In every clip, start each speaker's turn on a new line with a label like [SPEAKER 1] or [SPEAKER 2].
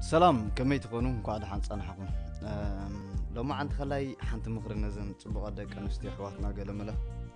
[SPEAKER 1] ሰላም ከመይ ትኾኑ እንኳዕ ደሓን ጸናሕኹም ሎማዓንቲ ከላይ ሓንቲ ምኽሪ ነዘን ፅቡቐ ደቂ ኣንስትዮ ኣሕዋትና ገለመለ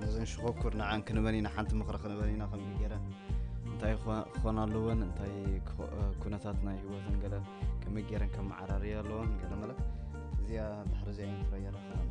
[SPEAKER 1] ነዘን ሽኮኩር ንዓን ክንበን ኢና ሓንቲ ምኽሪ ክንበን ኢና ከምዚ ገይረን እንታይ ክኾና ኣለወን እንታይ ኩነታት ናይ ህይወትን ገለ ከመይ ገይረን ከመዓራርያ ኣለወን ገለመለ እዚኣ ድሕሪ እዚኣ ኢንትሮ የረክበና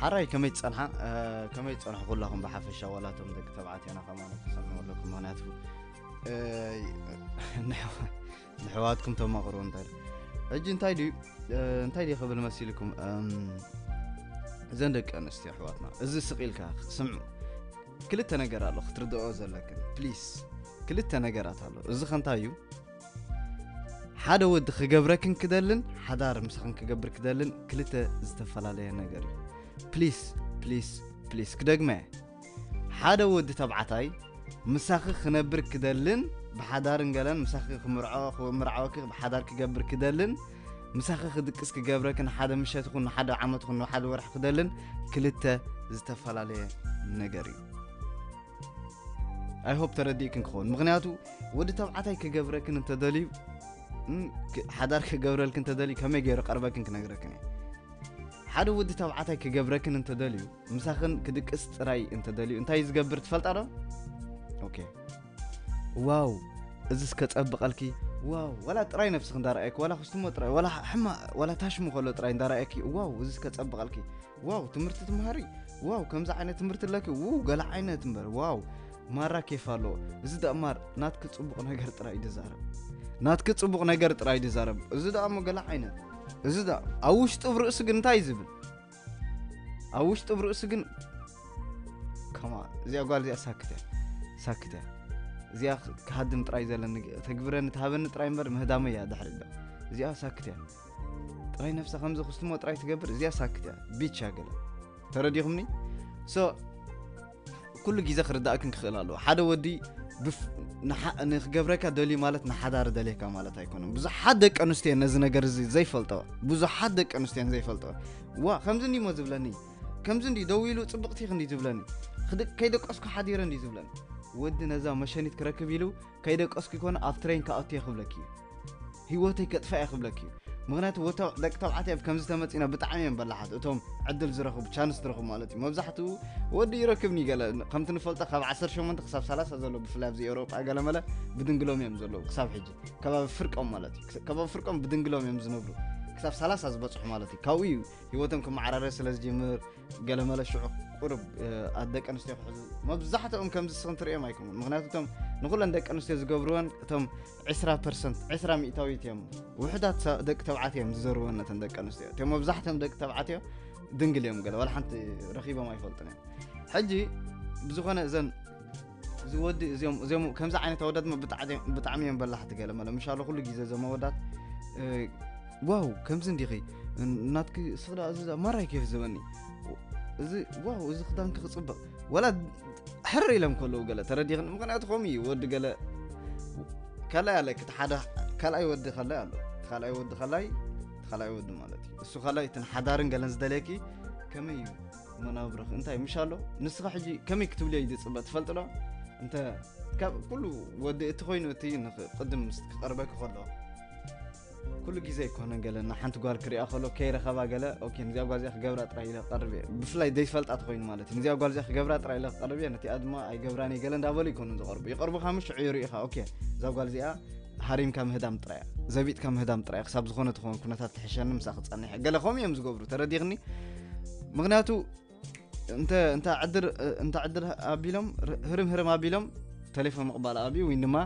[SPEAKER 1] ሓራይ ከመይ ትፀንሓ ከመይ ትፀንሑ ኩላኹም ብሓፈሻ ዋላቶም ደቂ ተባዕትዮና ከማነ ተሰምዑ ኣለኩም ምክንያቱ ንሕዋትኩም ተማቕሩ እንታይ ሕጂ እንታይ ድዩ እንታይ ድዩ ክብል መሲልኩም እዘን ደቂ ኣንስትዮ ኣሕዋትና እዚ ስቂልካ ስምዑ ክልተ ነገር ኣሎ ክትርድኦ ዘለክን ፕሊስ ክልተ ነገራት ኣሎ እዚ ከንታይ እዩ ሓደ ወዲ ክገብረክን ክደልን ሓዳር ምሳኽን ክገብር ክደልን ክልተ ዝተፈላለየ ነገር እዩ ፕሊስ ፕሊስ ፕሊስ ክደግመ ሓደ ወዲ ተብዓታይ ምሳኺ ክነብር ክደልን ብሓዳርን ገለን ምሳኺ ክምርዖክምርዓወኪ ብሓዳር ክገብር ክደልን ምሳኺ ክድቅስ ክገብረክን ሓደ ምሸት ይኹን ሓደ ዓመት ይኹን ሓደ ወርሒ ክደልን ክልተ ዝተፈላለየ ነገር እዩ ኣይ ሆፕ ተረዲእክን ክኸውን ምክንያቱ ወዲ ተብዓታይ ክገብረክን እንተደልዩ ሓዳር ክገብረልክን እንተደልዩ ከመይ ገይሩ ቀርበክን ክነግረክን እዩ ሓደ ወዲ ተብዓታይ ክገብረክን እንተደልዩ ምሳኽን ክድቅስ ጥራይ እንተደልዩ እንታይ ዝገብር ትፈልጣ ዶ ኦኬ ዋው እዚ እስከ ጸብቐልኪ ዋው ዋላ ጥራይ ነብስኽ እንዳረኣየኪ ዋላ ክስትሞ ጥራይ ዋላ ሕማ ዋላ ታሽሙ ከሎ ጥራይ እንዳረኣየኪ ዋው እዚ እስከ ጸብቐልኪ ዋው ትምህርቲ ትምሃሪ ዋው ከምዚ ዓይነት ትምህርቲ ኣለኪ ው ገለ ዓይነት እምበር ዋው ማራ ኬፍ ኣለዎ እዚ ደኣ ማር ናትኪ ፅቡቕ ነገር ጥራይ እዩ ዝዛረብ ናትኪ ፅቡቕ ነገር ጥራይ እዩ ዝዛረብ እዚ ደኣ እሞ ገለ ዓይነት እዚ ደኣ ኣብ ውሽጡ ብ ርእሱ ግን እንታይ እዩ ዝብል ኣብ ውሽጡ ብ ርእሱ ግን ከማ እዚኣ ጓል እዚኣ ሳክት እያ ሳክት እያ እዚኣ ክሃድም ጥራይ ዘለኒ ተግብረኒ ትሃበኒ ጥራይ እምበር ምህዳመ እያ ድሕሪ እዚኣ ሳክት እያ ጥራይ ነፍሳ ከምዚ ክስትሞ ጥራይ ትገብር እዚኣ ሳክት እያ ቢቻ ገለ ተረዲኹምኒ ሶ ኩሉ ግዜ ክርዳእክን ክኽእል ኣለዎ ሓደ ወዲ ንክገብረካ ደልዩ ማለት ንሓዳር ደልየካ ማለት ኣይኮነን ብዙሓት ደቂ ኣንስትዮ ነዚ ነገር እዚ ዘይፈልጠወ ብዙሓት ደቂ ኣንስትዮን ዘይፈልጠወ ዋ ከምዚ እንዲሞ ዝብለኒ ከምዚ እንዲ ደው ኢሉ ፅብቕቲ ክንዲ ዝብለኒ ከይደቀስኩ ሓዲረ እንዲ ዝብለኒ ወዲ ነዛ መሸኒት ክረክብ ኢሉ ከይደቀስኩ ይኮነ ኣብ ትሬን ክኣቱ እየ ክብለኪ እዩ ህይወተይ ከጥፋ እየ ክብለኪ እዩ ምክንያቱ ወተ ደቂ ተባዕትዮ ኣብ ከምዚ ተመፂና ብጣዕሚ እዮም በላሓት እቶም ዕድል ዝረኽቡ ቻንስ ዝረኽቡ ማለት እዩ መብዛሕትኡ ወዲ ይረክብኒ ገለ ከምቲ ንፈልጦ ካብ 18 ክሳብ 30 ዘሎ ብፍላይ ኣብዚ ኤውሮጳ ገለመለ ብድንግሎም እዮም ዘለዉ ክሳብ ሕጂ ከባቢ ፍርቆም ማለት እዩ ከባቢ ፍርቆም ብድንግሎም እዮም ዝነብሩ ክሳብ 30 ዝበፅሑ ማለት እዩ ካብኡ እዩ ህይወቶም ክመዓራረ ስለ ዝጅምር ገለመለ ሽዑ ቁርብ ኣብ ደቂ ኣንስትዮ ክሕዙ መብዛሕትኦም ከምዚ ስኽን ትርእዮም ኣይኮኑን ምክንያቱ እቶም ንኩለን ደቂ ኣንስትዮ ዝገብርወን እቶም 20 ፐርሰንት 20 ሚእታዊት እዮም ውሕዳት ደቂ ተብዓት እዮም ዝዘርወን ነተን ደቂ ኣንስትዮ እትም መብዛሕትኦም ደቂ ተብዓት እዮም ድንግል እዮም ገለ ዋላ ሓንቲ ረኪቦም ኣይፈልጡን እዮም ሕጂ ብዝኾነ እዘን እዚ ወዲ እዚኦም እዚኦም ከምዚ ዓይነት ኣወዳት ብጣዕሚ እዮም በላሕቲ ገለ መለ ምሻሎ ኩሉ ግዜ እዞም ኣወዳት ዋው ከምዚ እንዲኺ ናትኪ ስኽዳ እዚ ማራይ ኬፍ ዝበኒ እዚ ዋው እዚ ክዳንኪ ክፅብቕ ወላ ሕር ኢሎም ከለዉ ገለ ተረዲኽን ምክንያቱ ከምኡ እዩ ወዲ ገለ ካልኣይ ኣለኪ እቲ ሓደ ካልኣይ ወዲ ካልኣይ ኣሎ ካልኣይ ወዲ ካልኣይ ካልኣይ ወዲ ማለት እዩ እሱ ካልኣይ እትን ሓዳርን ገለን ዝደልየኪ ከመይ እዩ መናብርኽ እንታይ ምሽ ኣሎ ንስኻ ሕጂ ከመይ ክትብልዮ እዩ ዝፅበ ትፈልጥ ዶ እንተ ካብ ኩሉ ወዲ እቲ ኮይኑ እቲ ንቅድም ምስ ክቐርበኪ ከሎ ኩሉ ግዜ ኣይኮነ ገለ ንሓንቲ ጓል ክሪኣ ከሎ ከይረኸባ ገለ ኦኬ ንዚኣ ጓል እዚኣ ክገብራ ጥራይ ኢለ ክቐርብ እየ ብፍላይ ዘይፈልጣ ተኮይኑ ማለት እዩ ንዚኣ ጓል እዚኣ ክገብራ ጥራይ ኢለ ክቐርብ እየ ነቲኣ ድማ ኣይገብራን እየ ገለ እንዳበሉ ይኮኑ ዝቐርቡ ይቐርቡካ ምሽ ሽዑ ይርኢኻ ኦኬ እዛ ጓል እዚኣ ሃሪምካ ምህዳም ጥራይ እያ ዘቢጥካ ምህዳም ጥራይ ክሳብ ዝኾነ ትኸውን ኩነታት ትሕሸኒ ምሳ ክፀኒሐ ገለ ከምኡ እዮም ዝገብሩ ተረዲኽኒ ምክንያቱ እንተ እንተ ዕድር እንተ ዕድር ኣቢሎም ህርም ህርም ኣቢሎም ተሌፎን ምቕባል ኣብዩ ወይ ድማ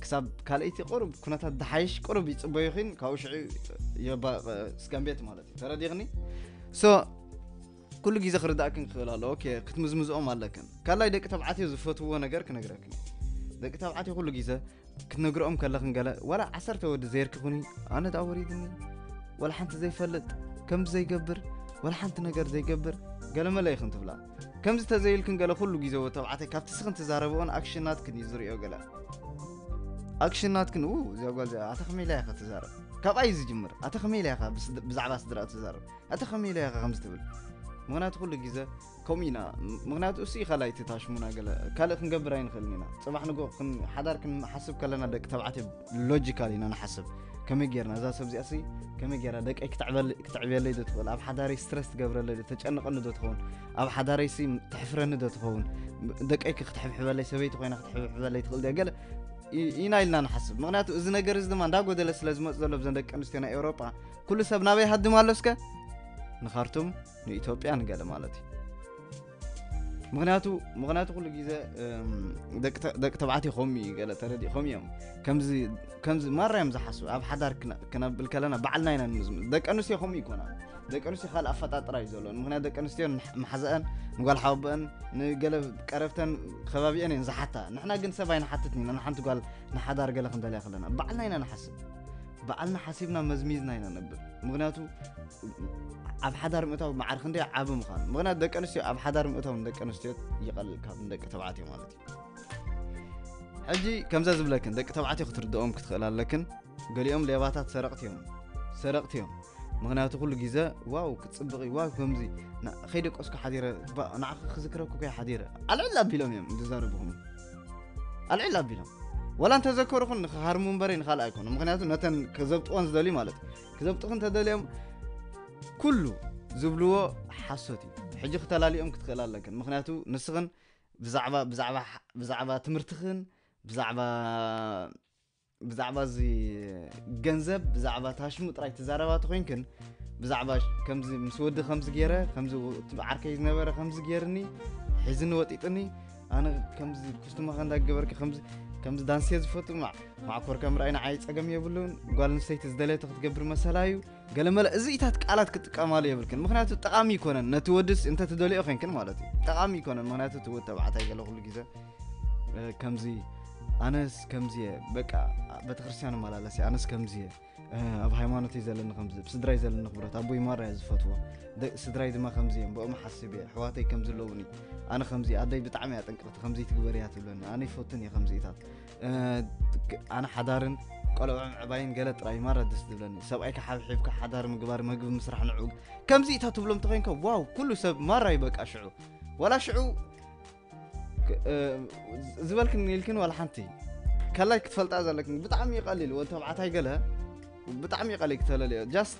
[SPEAKER 1] ክሳብ ካልኣይቲ ቅሩብ ኩነታት ድሓይሽ ቅሩብ ይፅበዩ ኺን ካብኡ ሽዑ ስጋምቤት ማለት እዩ ተረዲኽኒ ሶ ኩሉ ግዜ ክርዳእክን ክክእል ኣለዎ ኦኬ ክትምዝምዝኦም ኣለክን ካላይ ደቂ ተባዕትዮ ዝፈትውዎ ነገር ክነግረክን ደቂ ተባዕትዮ ኩሉ ግዜ ክትነግርኦም ከለክን ገለ ዋላ ዓሰርተ ወዲ ዘይርክኹኒ ኣነ ዳ ወሪድኒ ዋላ ሓንቲ ዘይፈልጥ ከምዚ ዘይገብር ዋላ ሓንቲ ነገር ዘይገብር ገለመለ ይኽን ትብላ ከምዚ ተዘይልክን ገለ ኩሉ ግዜ ወ ተባዕታይ ካብቲ ስኽን ትዛረብኦን ኣክሽናትክን እዩ ዝሪኦ ገለ ኣክሽናትክን ኡ እዚኣ ጓል እዚኣ ኣታ ከመይ ኢላ ኢኻ ትዛረብ ካብኣ እዩ ዝጅምር ኣታ ከመይ ኢላ ኢኻ ብዛዕባ ስድራኣ ትዛረብ ኣታ ከመይ ኢለ ኢኻ ከምዚ ትብል ምክንያቱ ኩሉ ግዜ ከምኡ ኢና ምክንያቱ እሱ እዩ ካልኣይ እቲ ታሽሙና ገለ ካልእ ክንገብር ኣይንኽእልን ኢና ፅባሕ ንጎ ሓዳር ክንሓስብ ከለና ደቂ ተባዕትዮ ሎጂካል ኢና ንሓስብ ከመይ ጌርና እዛ ሰብ እዚኣሲ ከመይ ጌራ ደቀይ ክትዕብየለይ ዶ ትኽእል ኣብ ሓዳረይ ስትረስ ትገብረለይ ዶ ተጨንቐኒ ዶ ትኸውን ኣብ ሓዳረይሲ ትሕፍረኒ ዶ ትኸውን ደቀይ ክትሕብሕበለይ ሰበይቲ ኮይና ክትሕብሕበለይ ትኽእል ድያ ገለ ኢና ኢልና ንሓስብ ምክንያቱ እዚ ነገር እዚ ድማ እንዳጎደለ ስለ ዝመፅ ዘሎ ብዘን ደቂ ኣንስትዮ ናይ ኤውሮጳ ኩሉ ሰብ ናበይ ሃድም ኣሎ እስከ ንካርቱም ንኢትዮጵያ ንገለ ማለት እዩ ምክንያቱ ምክንያቱ ኩሉ ግዜ ደቂ ተባዕትዮ ከምኡ እዩ ገለ ተረዲእኮም እዮም ከምዚ ማራ እዮም ዝሓስቡ ኣብ ሓዳር ክነብል ከለና ባዕልና ኢና ንምዝም ደቂ ኣንስትዮ ከምኡ ይኮና ደቂ ኣንስትዮ ካልእ ኣፈጣጥራ እዩ ዘለዎን ምክንያት ደቂ ኣንስትዮ መሓዘአን ንጓል ሓወበአን ንገለ ቀረብተን ከባቢአን እየን ዝሓታ ንሕና ግን ሰብ ኣይንሓትትን ኢና ንሓንቲ ጓል ንሓዳር ገለ ክንደልያ ከለና ባዕልና ኢና ንሓስብ ባዕልና ሓሲብና መዝሚዝና ኢና ነብር ምክንያቱ ኣብ ሓዳር ምእታው መዓር ክንደይ ዓብ ምዃኑ ምክንያቱ ደቂ ኣንስትዮ ኣብ ሓዳር ምእታው ንደቂ ኣንስትዮ ይቐልል ካብ ንደቂ ተባዕትዮ ማለት እዩ ሕጂ ከምዛ ዝብለክን ደቂ ተባዕትዮ ክትርድኦም ክትኽእል ኣለክን ገሊኦም ሌባታት ሰረቕቲ እዮም ሰረቕቲ እዮም ምክንያቱ ኩሉ ግዘ ዋው ክፅብቕ እዩ ዋው ከምዚ ከይደቀስኩ ሓዲረ ንዓኺ ክዝክረኩ ከይ ሓዲረ ኣልዕል ኣቢሎም እዮም ዝዛረብኹም ኣልዕል ኣቢሎም ወላ እንተዘከሩኹን ንክሃርሙ እምበረይ ንካልእ ኣይኮኑ ምክንያቱ ነተን ከዘብጥወን ዝደልዩ ማለት እዩ ክዘብጥኹን ተደልዮም ኩሉ ዝብልዎ ሓሶት እዩ ሕጂ ክተላልኦም ክትክእል ኣለክን ምክንያቱ ንስኽን ብዛዕባ ትምህርትኽን ብዛዕባ ብዛዕባ እዚ ገንዘብ ብዛዕባ ታሽሙ ጥራይ ትዛረባ ተኮይንክን ብዛዕባ ከምዚ ምስ ወዲ ከምዚ ገይረ ከምዚ ዓርከይ ዝነበረ ከምዚ ገይርኒ ሒዝኒ ወጢጥኒ ኣነ ከምዚ ኩስትማኸ እንዳገበርኪ ከምዚ ከምዚ ዳንሴ ዝፈቱ ማዕኮር ከም ርኣይ ንዓይ ፀገም የብሉን ጓል ንሰይቲ ዝደለየቶ ክትገብር መሰላ እዩ ገለመለ እዚኢታት ቃላት ክጥቀማሉ የብልክን ምክንያቱ ጠቃሚ ይኮነን ነቲ ወድስ እንተ ትደልዮ ኮንክን ማለት እዩ ጠቃሚ ይኮነን ምክንያቱ እቲ ወድ ተባዕታይ ገለ ኩሉ ግዜ ከምዚ ኣነስ ከምዚ እየ በቃ ቤተክርስትያን መላለስ እየ ኣነስ ከምዚ እየ ኣብ ሃይማኖተይ ዘለኒ ከምዚ ስድራይ ዘለኒ ክብረት ኣቦይ ማራ እየ ዝፈትዎ ስድራይ ድማ ከምዚ እዮም ብኦም ሓስብ እየ ኣሕዋተይ ከምዚ ኣለውኒ ኣነ ከምዚ ኣደይ ብጣዕሚ እያ ጥንቅቅቲ ከምዚ ትግበር እያ ትብለኒ ኣነ ይፈቱን እየ ከምዚኢታት ኣነ ሓዳርን ቆልዑ ምዕባይን ገለ ጥራይ ማራ ደስ ዝብለኒ ሰብኣይካ ሓብሒብካ ሓዳር ምግባር መግቢ ምስራሕ ንዑ ከምዚ እታ ትብሎም ተኮይንካ ዋው ኩሉ ሰብ ማራ እዩ በቃ ሽዑ ዋላ ሽዑ ዝበልክን ኢልክን ዋላ ሓንቲ ከላይ ክትፈልጣ ዘለክን ብጣዕሚ ይቀሊል ወዲ ተባዕታይ ገለ ብጣዕሚ ይቀሊል ክተለልዮ ጃስት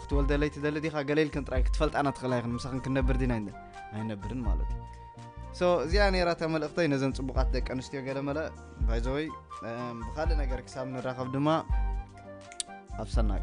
[SPEAKER 1] ክትወልደለይ ትደሊ ዲካ ገለልክን ጥራይ ክትፈልጣ ናትክእል ኣይክን ምሳክን ክንነብር ዲና ይን ኣይነብርን ማለት እዩ ሶ እዚኣ ነራ እታ መልእክተይ ነዘን ፅቡቃት ደቂ ኣንስትዮ ገለመለ ባይዘወይ ብካልእ ነገር ክሳብ ንራኸብ ድማ ኣብ ሰናይ